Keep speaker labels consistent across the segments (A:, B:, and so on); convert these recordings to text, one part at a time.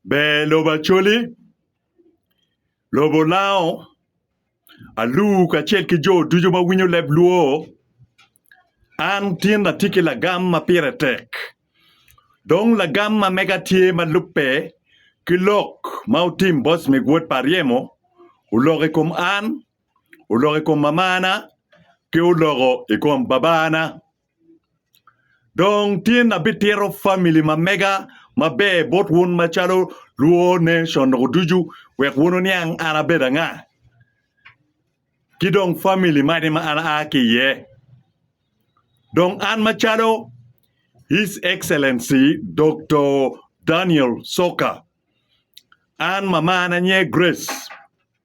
A: Ber lobo Acholi, lobo Lango, Alur kacel ki jo ducu ma winyo leb Luo. An tin atye ki lagam ma pire tek dong lagam ma mega tye ma lubbe ki lok ma otim boss me gwod pa Aryemo oloko i kom an, oloko i kom mamana ki oloko i kom babana. Dong tin abitito famili ma mega maber bot wun macalo lwo nation o ducu wek wun wuniang an abedo anga ki dong famili magi ma an aa ki iye dong an macalo His Excellency Doktor Daniel Soka an mamana nye Grace.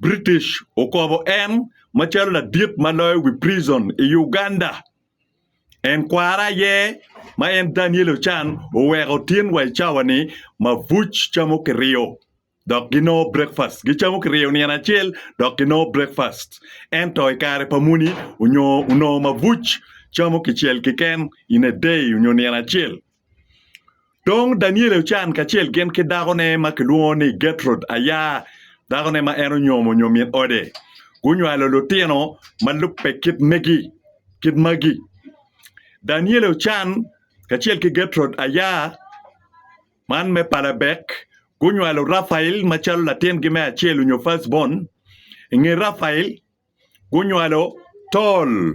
A: British okobo en macalo ladit ma loyo wi prison i Uganda. En kwara aye ma en Daniel Ochan oweko tin wa i cawa ni mabuc camo kiriyo dok ginongo breakfast. Gicamo kiriyo nino acel dok ginongo breakfast. Ento i kare pa muni onyo onongo mabuc camo kicel keken in a day onyo nino acel. Dong Daniele ocan kacel gin ki dakone ma kilwongo ni Gertrud aya, dakone ma en onyomo nyo min ode. Gunywalo lutino ma lubbe kit megi, kit magi. Daniele ocan kacel ki Gertrud aya, man me pa Labek, gunywalo Rafael macalo latingi me acel nyo first born. I nge Rafael, gunywalo Tol.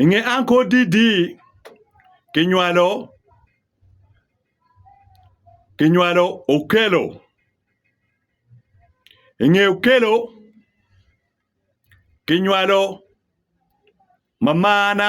A: I nge anko didi kinywalo kinywalo Okello. I nge Okello kinywalo mamana.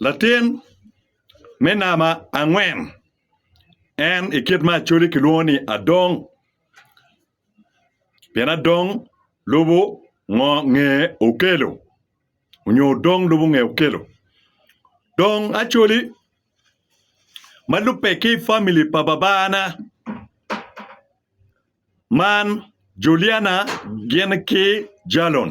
A: Latin me namba angwen en i kit me Acholi kilwongo ni Adong pien Adong lubo ngo nge Okello onyo Odong lubo nge Okello dong Acholi ma lubbe ki famili pa babana man Juliana gin ki Jalon.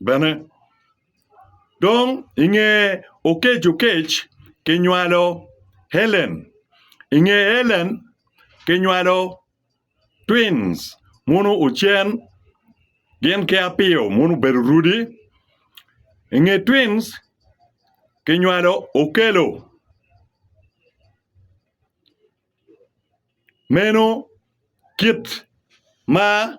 A: bene. Dong i nge Okec-Okec kinywalo Helen. I nge Helen kinywalo twins muno ocen gin ki apiyo muno obedo rudi. I nge twins kinywalo Okello. Meno kit ma.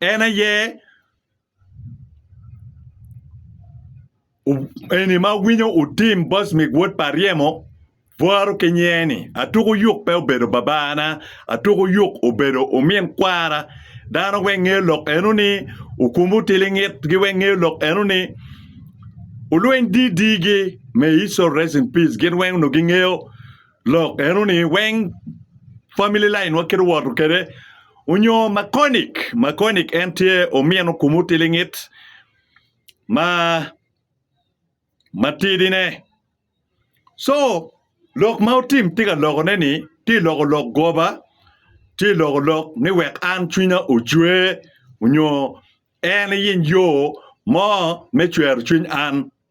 A: En aye eni ma winyo otim Bocmik wod Paryemo bwaro ki nyiye-ni, Atuko yuk pe obedo babana, atuko yuk obedo omin kwara. Dano weng ngeyo lok eno ni okumo tilingit gi weng ngeyo lok eno ni olweny didi gi me iso rest in peace gin weng onongo gingeyo Lok eno ni weng family line wa kite woto kede onyo makonic. Makonic en tye omino kum otilingit ma matidi ne. So lok ma otim tye ka loko ne ni tye loko lok goba tye loko lok ni wek an cwinya ocwe onyo en iyiny yo mo me cwero cwiny an.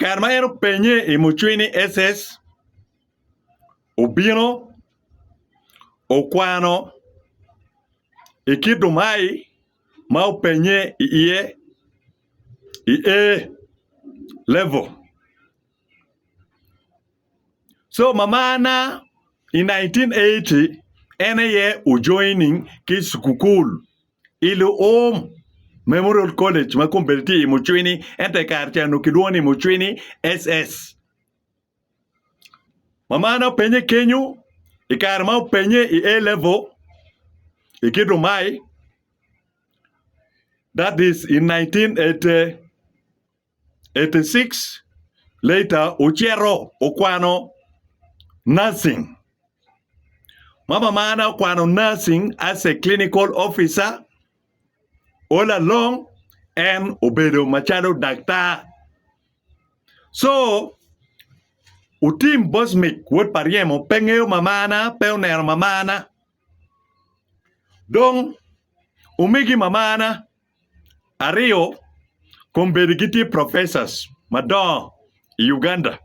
A: Kare ma en openye i mucwiny ni SS obino okwano i kit dumai ma openye iye i A level. So mamana i 1980 en aye ojoining ki cukukul I luum, Memorial College ma kombeddi tye i Mucwini ento i kare ca onongo kilwongo ni Mucwini SS. Mamana openye kenyo i kare ma openye i A Level i kit lumayi, that is in 1980. 86 later ocito okwano nursing. Mama marna okwano nursing as a clinical officer. All along en obedo macalo daktar. So Otim Bosmic wod pa Ryemo pe ngeyo mamana, pe oneno mamana. Dong omegi mamana. Aryo, kombeddi gitye professors madongo i Uganda.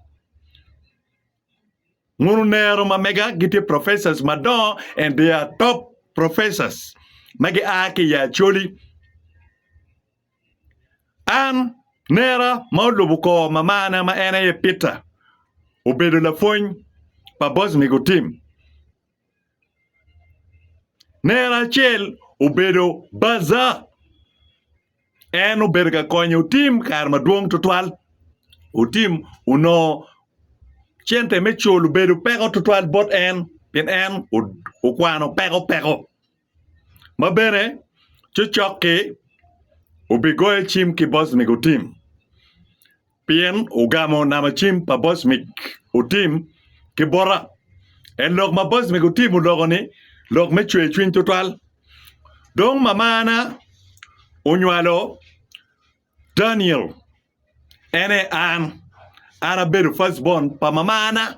A: Mono onero ma mega gitye professors madongo and they are top professors ma gia ki i Acholi. An nera ma olubo kor mamana ma en aye Peter obedo lapwony pa Bosmigo Tim. Nera acel obedo baja, en obedo ka konyo otim kare madwong tutwal. Otim onongo cente me cul obedo peko tutwal bot en pien en okwano peko peko. ma bene cocok-ki obigoyo cim ki Bocmic otim, pien ogamo namo cim pa Bocmic otim ki bota. En lok ma Bocmic otim oloko-ni lok me cwer cwiny tutwal. Dong mamana onywalo Daniel, en aye an. An abedo first born pa mamana.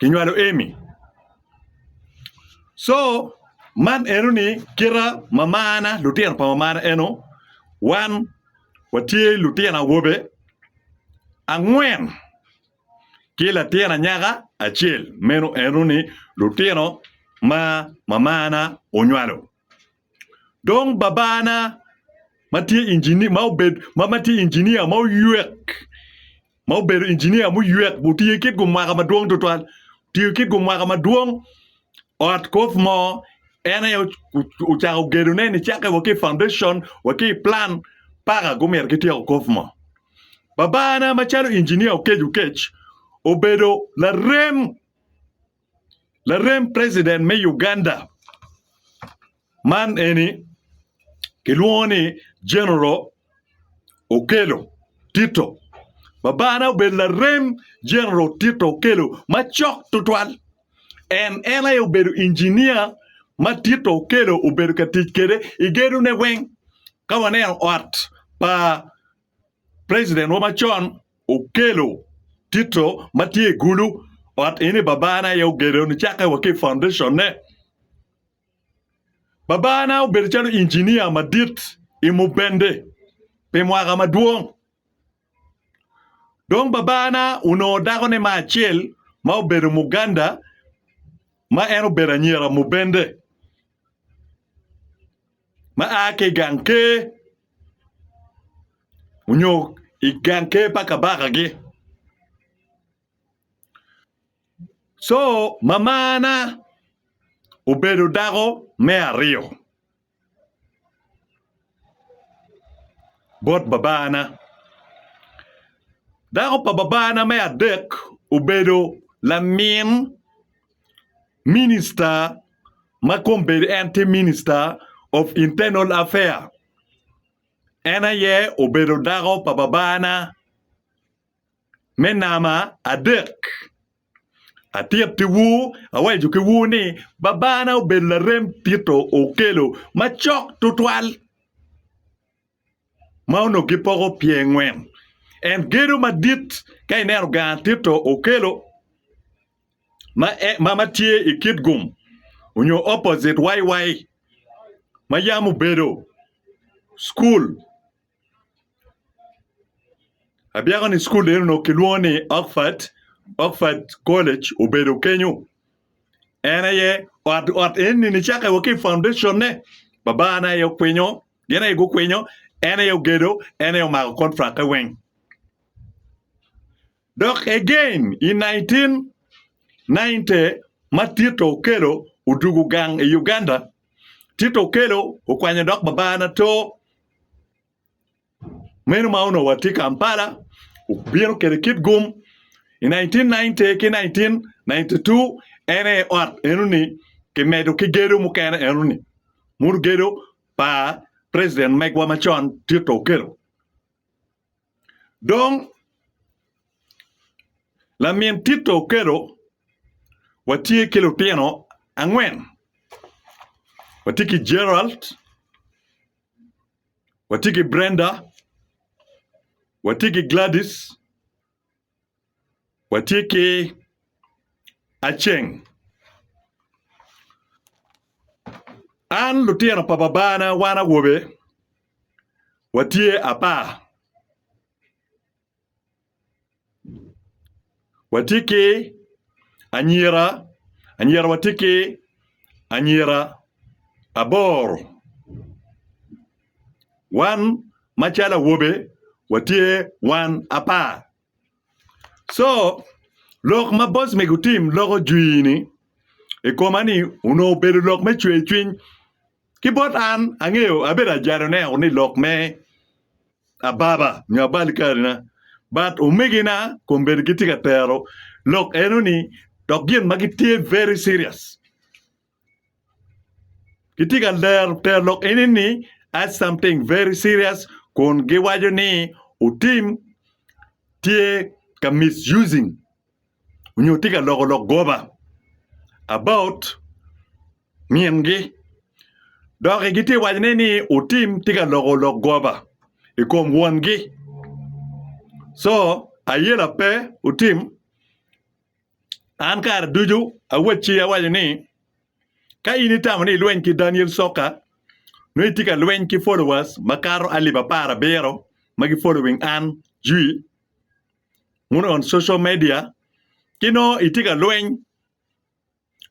A: Kinywalo Amy. So, man eno ni kita mamana, lutino pa mamana eno, wan watye lutino awobe angwen ki latin anyaka acel, meno eno ni lutino ma mamana onywalo. Dong babana ma tye injinia ma oywek ma obedo injinia ma oywek otiyo kit gumwaka madwong tutwal otiyo kit gumwaka madwong ot koth mo en aye ocako gedone nicake wa ki i paundecon wa ki i pulan paka gumito gityeko koth mo. Babana macalo injinia Okec Okec obedo larem. Larem president me Uganda man eni kilwongo ni General Okello Tito. Babana obedo larem General Tito Okello macok tutwal. En en aye obedo injinia ma Tito Okello obedo ka tic kwede i gedone weng. Ka waneno ot pa President wa macon okelo tito ma tye i gulu ot eni babana aye ogedo nicakke wa ki i foundation ne. Babana obedo calo engineer madit i Mubende pi mwaka madwong. Dong babana onongo dako ne ma acel ma obedo Muganda ma en obedo anyira Mubende. ma a ki i gang ker nyo i gang ker pa kabakagi. Co mamana obedo dako me aryo bot babana. Dako pa babana me adek obedo lamin. Minista ma kombeddi en tye Minister of Internal Affair en aye obedo dako pa babana me nama adek. Atyet ki wu awaco ki wu ni babana obedo larem Tito Okello macok tutwal. ma onongo gipoko pyengwen. En gedo madit ka ineno gang Tito okelo ma en ma matye i Kitgum onyo opposite YY ma yam obedo cukul abyeko ni cukul eno kilwongo ni Oxford Oxford college obedo kenyo. En aye ot ot eni nicake wa ki i foundation ne baba na aye okwinyo gin aye gukwinyo en aye ogedo en aye omako contract e weng dok again i 1990 ma Tito Okello odugo gang i Uganda Tito Okello okwanyo dok baba na too Meno ma onongo watye Kampala obino kwede kit gum i 1990 ki 1992 en aye ot enoni kimedo ki gedo mukene enoni modo gedo pa president megwa macon Tito Okello dong lamin Tito Okello watye ki lutino angwen watye ki Gerald Watye ki Brenda, watye ki Gladys, watye ki Aceng. An lutino pa babana wan awobe watye apar. Watye ki anyira anyira watye ki anyira aboro wan macalo awobe watye wan apar co lok ma boss ni gutim loko jwi ni i koma ni onongo obedo lok me cwercwiny. Ki bot an, angeyo abedo ajano ne ni lok me ababa nyo abali kare na, but omegi na kombeddi gitye ka tero lok eno ni dok gin ma gitye very serious. Gitye ka lero tero lok eni ni as something very serious kun giwaco ni otim tye ka misusing. onyo tye ka loko lok goba about min gi dok gi tye ka waco ne ni otim tye ka loko lok goba i kom won gi so ayela pe otim an kare ducu awacci awaco ni ka in itamo ni ilweny ki Daniel Soka nongo itye ka lweny ki followers makato alip apar abiro ma gi following an jwi. wun on social media ki nongo itye ka lweny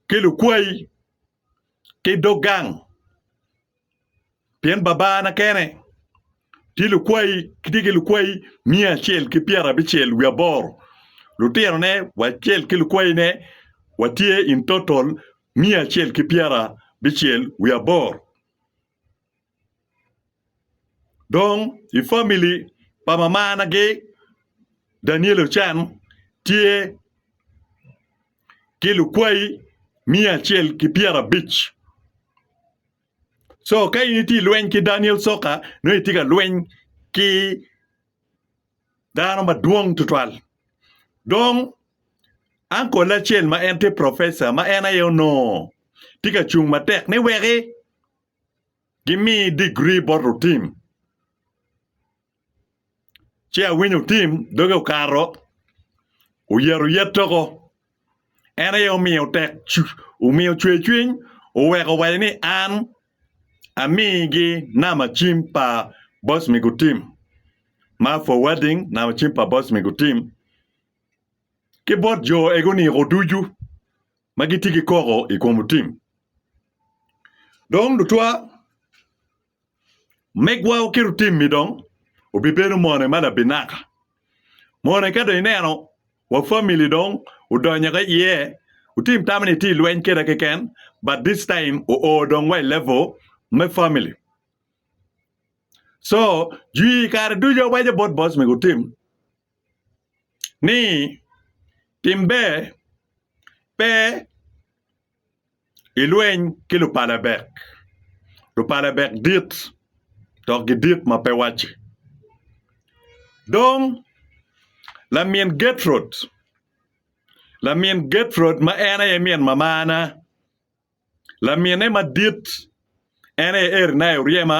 A: ki lukwayi ki dog gang pien Babana kene tye lukwayi tye ki lukwayi miya acel ki pyera abicel wiye aboro lutinone wacel ki lukwayine watye in total miya acel ki pyera abicel wiye aboro. Dong i famili pa mamanagi Daniel Ocen tye ki lukwayi miya acel ki pyerabic co ka in itye ka lweny ki Daniel Soccer nongo itye ka lweny ki dano madwong tutwal dong angole acel ma en tye profeca ma en aye onongo tye ka cung matek ni weki gimi degree bot otim ci awinyo otim doge okato oyero yet toko en aye omiyo tek omiyo cwer cwiny oweko waco ni an amigi namba cim pa boss me gutim ma forwarding namba cim pa boss me gutim ki bot jo egi oniko ducu ma gitye ki koko i kom otim. Dong lutwa megwa waketo otim-mi dong obibedo mone ma labinaka. Mone ka dong ineno wa family dong odonyo ki iye otim tamo ni itye ilweny keda keken but this time o oo dong wa i level me family. So jwi kare ducu awaco bot boss mego otim. ni tim ber pe ilweny ki lupalabek, lupalabek dit dok gidit ma pe wacce. Dong lamin Gertrud, lamin Gertrud ma en aye min mamana, lamine madit en aye eri nayo ryema.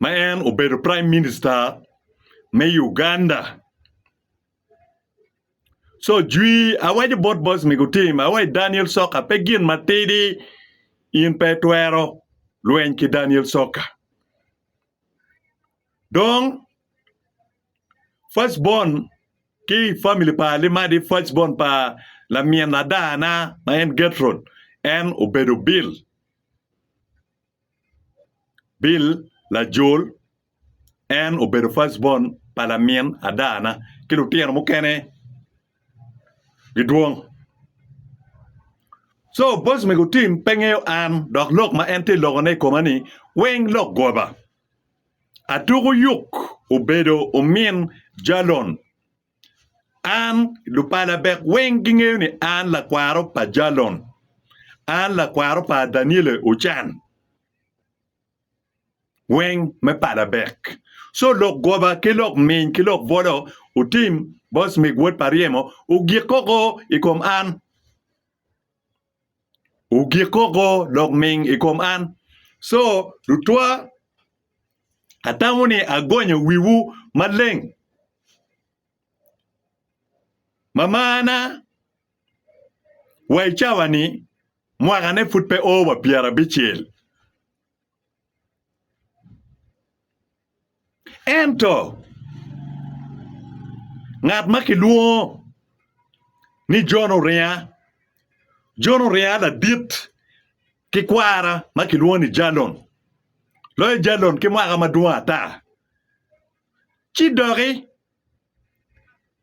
A: ma en obedo prime minister me Uganda. Co jwi awaco bot boys me gutim awaco Daniel Soka pe gin matidi in pe itwero lweny ki Daniel Soka. Dong first born ki family pa Limadi first born pa lamin adana ma en Getrod en obedo bill. Bill lajol en obedo first born pa lamin ada na ki lutino mukene gidwong so boss me gutim pe ngeyo an dok lok ma en tye lokone i koma ni weng lok goba atuku yuk obedo omin jalon. An, lupala bek weng gingeyo ni an lakwaro pa Jalon, an lakwaro pa Daniele Ochan weng me pala bek. Co lok goba ki lok miny ki lok bolo otim, Bosmig wod pa ryemo ogik koko i kom an. ogik koko dok ming i kom an co lutwa atamo ni agonyo wiwu maleng ma marna wa i cawa ni mwaka ne pud pe oo wa pyera bicel. Ento, ngat ma kilwongo ni Jon oringa, Jon oringa ladit ki kwara ma kilwongo ni Jalon, loyo Jalon ki mwaka madwong ata, ci doki.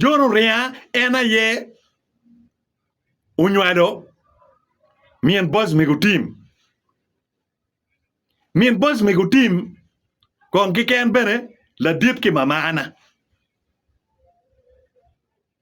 A: Jon oringa en aye onywalo min boc mego tim. Min boc mego tim kong kiken bene ladit ki mamana.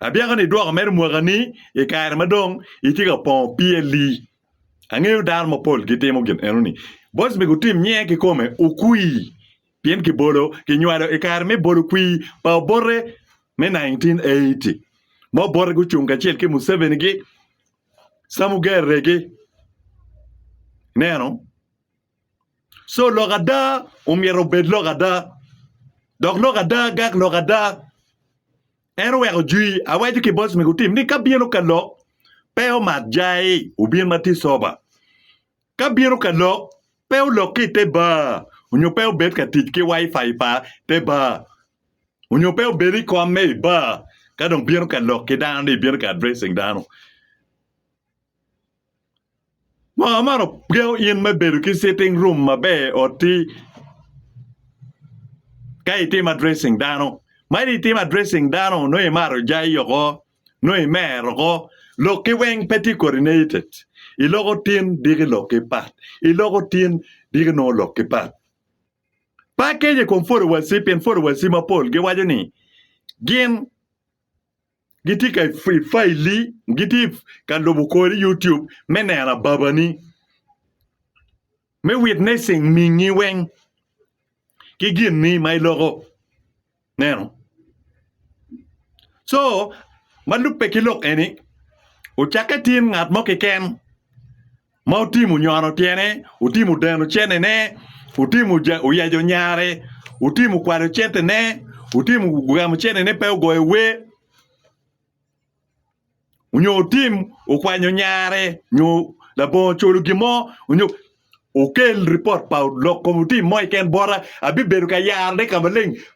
A: Abyaka ni idwoko mere mwaka ni i kare ma dong itye ka pongo PLE. Angeyo dano mapol gitimo gin eno ni. Boys me gutim nyinge kikome okwi pien kibolo kinywalo i kare me bolo kwi pa obote me 1980 ma obote gucung kacel ki Museveni gi Samugerre gi neno. So lok ada omyero obed lok ada, dok lok ada gak lok ada. En oweko jwi, awaco ki boss me gutim ni ka bino ka lok pe omak jai obin ma tye sober. Ka bino ka lok pe olok ki ite bar onyo pe obed ka tic ki wifi pa te bar onyo pe obed i kom me i bar ka dong bino ka lok ki dano ni bino ka addressing dano. Mwaka man ogengo in me bedo ki sitting room maber i otti ka itimo addressing dano. Ma in itimo addressing dano nongo imaro jayi oko nongo imer oko lokki weng pe tye kodi neitted iloko tin diki lokki pat iloko tin diki nongo lokki pat. Pe akeco i kom followers-ci pien followers-ci mapol giwaco ni gin Gitye ka i faili, gitye ka lubo kori i YouTube me neno ababani, me witnessing mingi weng ki gin ni ma iloko. Ineno? Co, ma lubbe ki lok eni, wucakke tin ngat mo keken. ma otimo nyono tyene, otimo deno cennene, otimo oyeco nyare, otimo kwalo centene, otimo gamo cennene pe ogoyo wer onyo otim okwanyo nyare nyo labongo oculu gin mo onyo okel ripot pa lok kom otim mo keken bota abibedo ka yarone ka maleng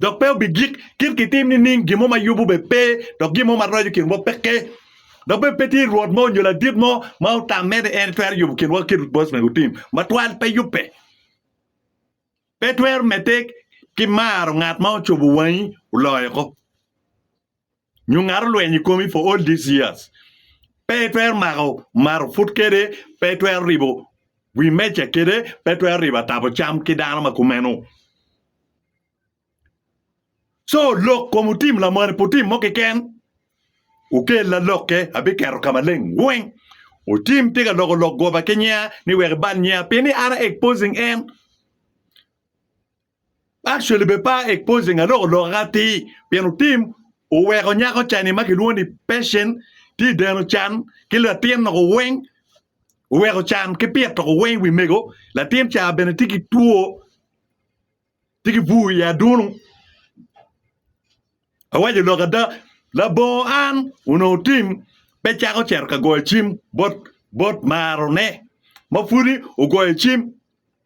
A: dok pe obigik, kit kitim nining gin mo ma yubu bene pe, dok gin mo ma roco kin wa peke. Dok bene pe tye rwot mo nyo ladit mo ma otamme ni en twero yubu kin wa kit rwot Boaz mego otim matwal, pe yubbe. Pe twero medde ki maro ngat ma ocubu wangi oloyo ko. nyo ngat olwenyo i komi for all these years, pe itwero mako maruput kede, pe itwero ribo wi meja kede, pe itwero ribo atabo cam ki dano ma kumeno. Co lok kom otim lamoni pi otim mo keken, okella lokke abiketo ka maleng weng. Otim tye ka loko lok goba ki nyinga ni wek ibal nyinga pi ni an a exposing en. Actually be pa exposing aloko loka atir pien otim oweko nyako cani ma kilwongo ni Patient tye i deno can ki latin loko weng oweko can ki pito loko weng i wi mego latin ca bene tye ki two tye ki bur i adunu awaco lok ada labongo an onongo tim pe cako cito ka goyo cim bot marone ma pwodi ogoyo cim.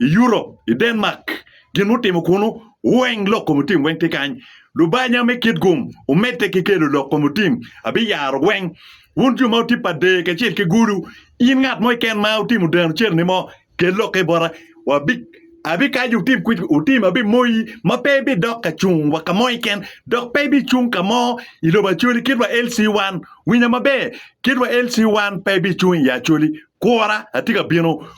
A: I Europe, i Denmark, gin mutimo kunu weng lok kom otim weng tye kany. Lubanya me kit gum omedde ki kelo lok kom otim abiyaro weng. Wun jo ma wutye pa dee kacel ki gulu, in ngat mo keken ma wutimo deno cereni mo, kel lokke bota. Wabi, abikaco wutim kwed, wutim abimoyi ma pe ibidok ka cung wa ka mo keken, dok pe ibicung ka mo i lobo Acholi kit wa LC wan. Winya maber, kit wa LC wan pe ibicung i ye Acholi. Kura, atye ka bino.